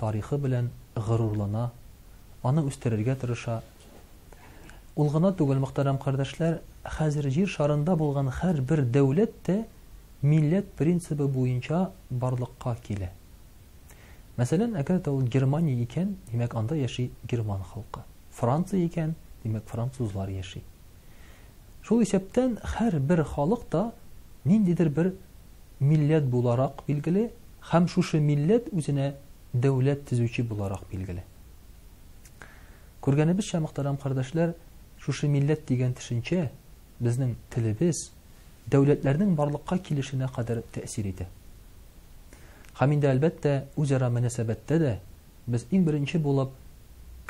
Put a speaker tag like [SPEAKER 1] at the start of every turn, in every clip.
[SPEAKER 1] тарихы белән горурлана, аны үстерергә тырыша. Ул гына түгел, мөхтәрәм кардәшләр, хәзер җир шарында булган һәрбер дәүләт тә милләт принцибы буенча барлыкка килә. Мәсәлән, әгәр дә ул Германия икән, димәк, анда яши герман халкы. Франция икән, димәк, французлар яши. Шул исәптән хәр бер халык та ниндидер бер милләт буларак билгеле һәм шушы милләт үзенә дәүләт тезүче буларак билгеле. Күргәнебезчә, мөхтәрәм кардәшләр, шушы милләт дигән төшенчә безнең телебез дәүләтләрнең барлыкка килешенә кадәр тәэсир итә. Һәм инде әлбәттә, үзара мөнәсәбәттә дә Без иң беренче булып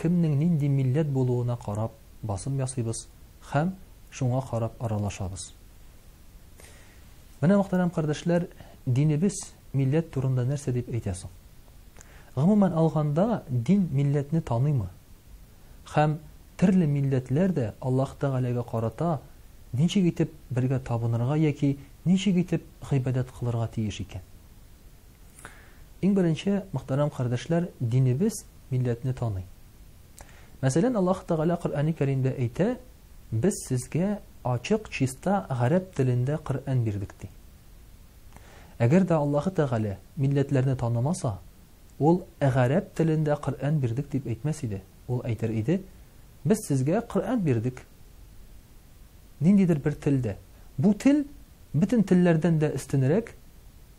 [SPEAKER 1] кемнең нинди милләт булуына карап басым ясыйбыз һәм шуңа карап аралашабыз. Менә, мөхтәрәм кардәшләр, динебез милләт турында нәрсә дип әйтә соң? Гомумән алганда, дин милләтне таныймы? Һәм төрле милләтләр дә Аллаһ Тәгаләгә карата ничек итеп бергә табынырга яки ничек итеп гыйбадәт кылырга тиеш икән? Иң беренче, мөхтәрәм кардәшләр, динебез милләтне таный. Мәсәлән, Аллаһ Тәгалә Коръәни Кәримдә әйтә, Без сезгә ачык, чиста гарәп телендә Коръән бирдек, ди. Әгәр дә Аллаһ Тәгалә милләтләрне танымаса, ул гарәп телендә Коръән бирдек дип әйтмәс иде. Ул әйтер иде, Без сезгә Коръән бирдек. Ниндидер бер телдә. Бу тел бөтен телләрдән дә өстенрәк,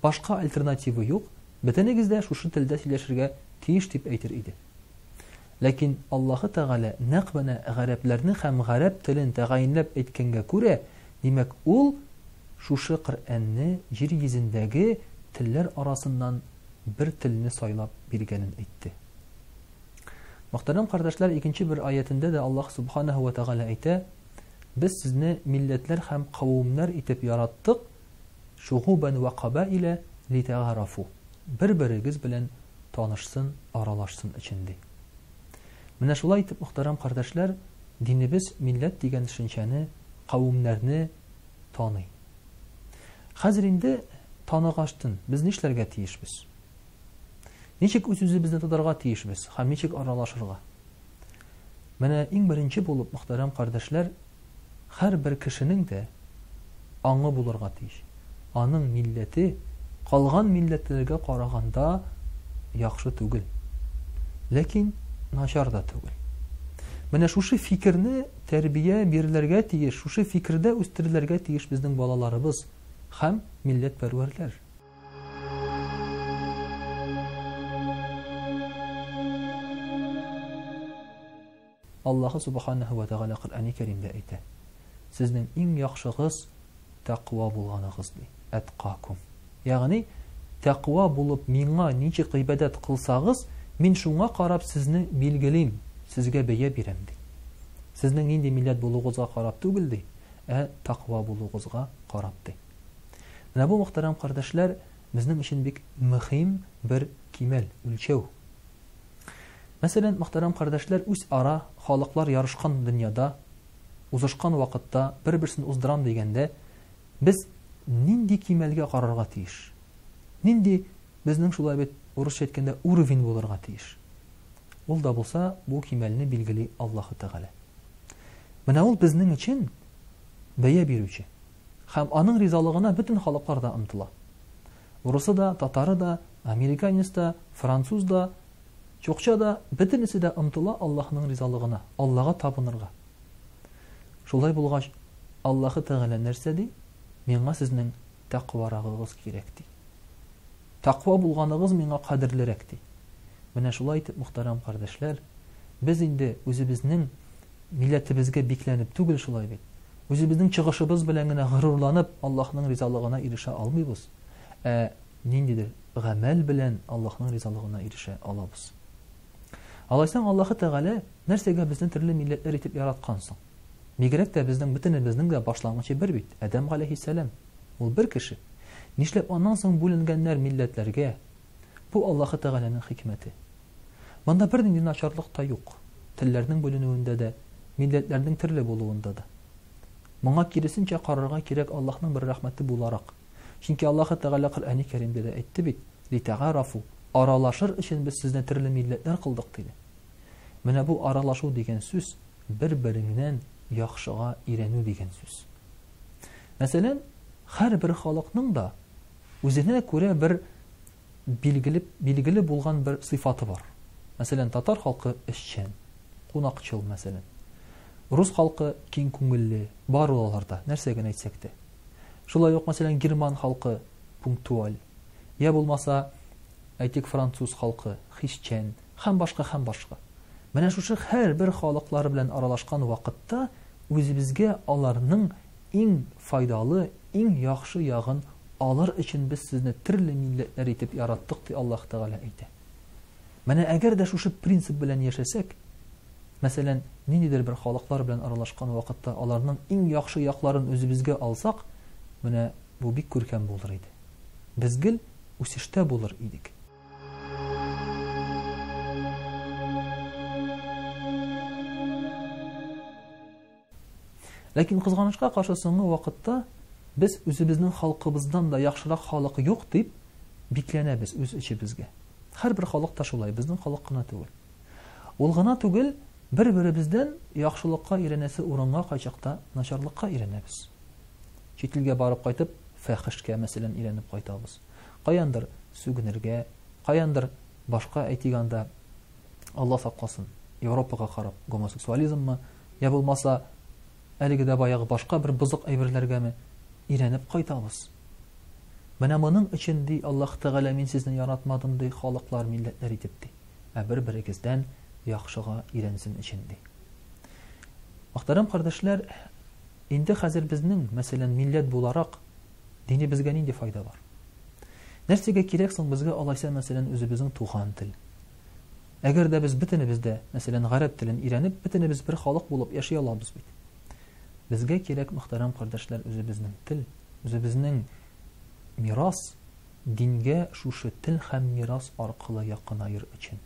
[SPEAKER 1] башка альтернативы юк, бөтенегез дә шушы телдә сөйләшергә тиеш дип әйтер иде. Ләкин Аллаһы Тәгалә нәкъ менә гарәпләрне һәм гарәп телен тәгаенләп әйткәнгә күрә, димәк, ул шушы Коръәнне җир йөзендәге телләр арасыннан бер телне сайлап биргәнен әйтте. Мөхтәрәм кардәшләр, икенче бер аятендә дә Аллаһ Субханаһу ва Тәгалә әйтә, Без сезне милләтләр һәм кавымнар итеп яраттык, шугубан ва кабаиля литәгарафу. Бер-берегез белән танышсын, аралашсын өчен ди. Менә шулай итеп, мөхтәрәм кардәшләр, динебез милләт дигән төшенчәне, кавымнарны таный. Хәзер инде таныгачтын, без нишләргә тиешбез? Ничек үз-үзебезне тотарга тиешбез һәм ничек аралашырга? Менә иң беренче булып, мөхтәрәм кардәшләр, һәрбер кешенең дә аңы булырга тиеш. Аның милләте калган милләтләргә караганда яхшы түгел. Ләкин начар да түгел. Менә шушы фикерне тәрбия бирелергә тиеш, шушы фикердә үстерелергә тиеш безнең балаларыбыз һәм милләт пәрвәрләр. Аллаһы Субханаһу ва Тәгалә Коръәни Кәримдә әйтә. Сезнең иң яхшыгыз тәкъва булганыгыз ди. Әткакум. Ягъни тәкъва булып миңа ничек гыйбадәт кылсагыз, мин шуңа карап сезне билгелим, сезгә бәя бирәм ди. Сезнең нинди милләт булуыгызга карап түгел ди, ә тәкъва булуыгызга карап ди. Менә бу, мөхтәрәм кардәшләр, безнең өчен бик мөһим бер кимәл, үлчәү. Мәсәлән, мөхтәрәм кардәшләр, үз ара халыклар ярышкан дөньяда, узышкан вакытта бер-берсен уздырам дигәндә, без нинди кимәлгә карарга тиеш? Нинди безнең шулай бит урысча әйткәндә уровень булырга тиеш? Ул да булса, бу кимәлне билгели Аллаһу Тәгалә. Менә ул безнең өчен бәя бирүче. Һәм аның ризалыгына бөтен халыклар да омтыла. Урысы да, татары да, американец та, француз да, чукча да, бөтенесе дә омтыла Аллаһының ризалыгына, Аллага табынырга. Шулай булгач, Аллаһы Тәгалә нәрсә ди? Миңа сезнең тәкъварагыгыз кирәк ди. Тәкъва булганыгыз миңа кадерлерәк, ди. Менә шулай итеп, мөхтәрәм кардәшләр, без инде үзебезнең милләтебезгә бикләнеп түгел шулай бит, үзебезнең чыгышыбыз белән генә горурланып, Аллаһның ризалыгына ирешә алмыйбыз, ә ниндидер гамәл белән Аллаһның ризалыгына ирешә алабыз. Алайсаң, Аллаһы Тәгалә нәрсәгә безне төрле милләтләр итеп яраткан соң? Бигрәк тә безнең бөтенебезнең дә башлангычы бер бит, Адәм галәйһиссәлам. Ул бер кеше. Нишләп аннан соң бүленгәннәр милләтләргә? Бу Аллаһы Тәгаләнең хикмәте. Монда бернинди начарлык та юк, телләрнең бүленүендә дә, милләтләрнең төрле булуында да. Моңа киресенчә карарга кирәк Аллаһның бер рәхмәте буларак. Чөнки Аллаһы Тәгалә Коръәни Кәримдә дә әйтте бит, Литәгарафу, аралашыр өчен без сезне төрле милләтләр кылдык, диде. Менә бу аралашу дигән сүз бер-береңнән яхшыга өйрәнү дигән сүз. Мәсәлән, һәрбер халыкның да үзенә күрә бер билгеле, билгеле булган бер сыйфаты бар. Мәсәлән, татар халкы эшчән, кунакчыл, мәсәлән. Рус халкы киң күңелле, бар ул аларда, нәрсә генә әйтсәк тә. Шулай ук, мәсәлән, герман халкы пунктуаль, я булмаса, әйтик, француз халкы хисчән, Һәм башка, һәм башка. Менә шушы һәрбер халыклар белән аралашкан вакытта үзебезгә аларның иң файдалы, иң яхшы ягын алыр өчен без сезне төрле милләтләр итеп яраттык, ди Аллаһ Тәгалә әйтә. Менә әгәр дә шушы принцип белән яшәсәк, мәсәлән, ниндидер бер халыклар белән аралашкан вакытта аларның иң яхшы якларын үзебезгә алсак, менә бу бик күркәм булыр иде. Без гел үсештә булыр идек. Ләкин кызганычка каршы соңгы вакытта без үзебезнең халкыбыздан да яхшырак халык юк дип бикләнәбез үз эчебезгә. Һәрбер халык та шулай, безнең халык кына түгел. Ул гына түгел, бер-беребездән яхшылыкка өйрәнәсе урынга кайчакта начарлыкка өйрәнәбез. Чит илгә барып кайтып, фәхешкә мәсәлән өйрәнеп кайтабыз. Каяндыр сүгенергә, каяндыр башка әйтик анда, Алла сакласын, Европага карап гомосексуализммы, я булмаса, әлеге дә баягы башка бер бозык әйберләргәме өйрәнеп кайтабыз. Менә моның өчен, ди Аллаһ Тәгалә, мин сезне яратмадым, ди, халыклар, милләтләр итеп, ди. Ә бер-берегездән яхшыга өйрәнсен өчен, ди. Мөхтәрәм кардәшләр, инде хәзер безнең, мәсәлән, милләт буларак, Динебезгә нинди файда бар? Нәрсәгә кирәк соң безгә алайса, мәсәлән, үзебезнең туган тел? Әгәр дә без бөтенебез дә, мәсәлән, гарәп телен өйрәнеп, бөтенебез бер халык булып яши алабыз бит. Безгә кирәк, мөхтәрәм кардәшләр, үзебезнең тел, үзебезнең мирас, дингә шушы тел һәм мирас аркылы якынаер өчен.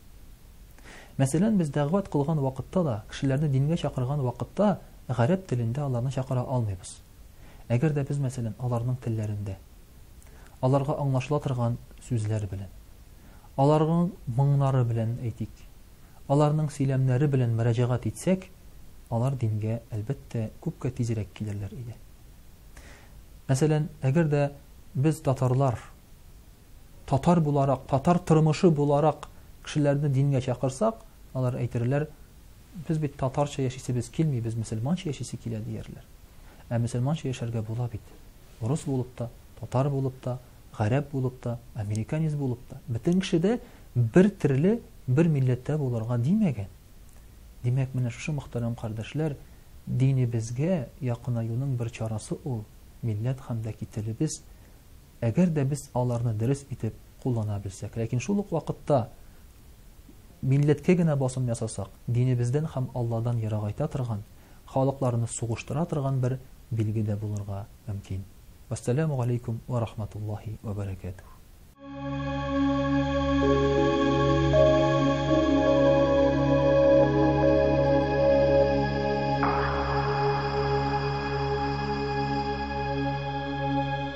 [SPEAKER 1] Мәсәлән, без дәгъват кылган вакытта да, кешеләрне дингә чакырган вакытта гарәп телендә аларны чакыра алмыйбыз. Әгәр дә без, мәсәлән, аларның телләрендә, аларга аңлашыла торган сүзләр белән, аларның моңнары белән, әйтик, аларның сөйләмнәре белән мөрәҗәгать итсәк, алар дингә, әлбәттә, күпкә тизрәк килерләр иде. Мәсәлән, әгәр дә без татарлар татар буларак, татар тормышы буларак кешеләрне дингә чакырсак, алар әйтерләр, без бит татарча яшисебез килми, без мөселманча яшисе килә диярләр. Ә мөселманча яшәргә була бит. Урыс булып та, татар булып та, гарәп булып та, американец булып та. Бөтен кеше дә бер төрле, бер милләттә булырга димәгән. Димәк, менә шушы мөхтәрәм кардәшләр, динебезгә якынаюның бер чарасы ул, милләт һәм дә кителебез Әгәр дә без аларны дөрес итеп куллана белсәк, ләкин шул ук вакытта милләткә генә басым ясасак, динебездән һәм Алладан ерагайта торган, халыкларны сугыштыра торган бер билге дә булырга мөмкин. Вәссәламү галәйкүм вә рахматуллаһи вә бәрәкәтүһ.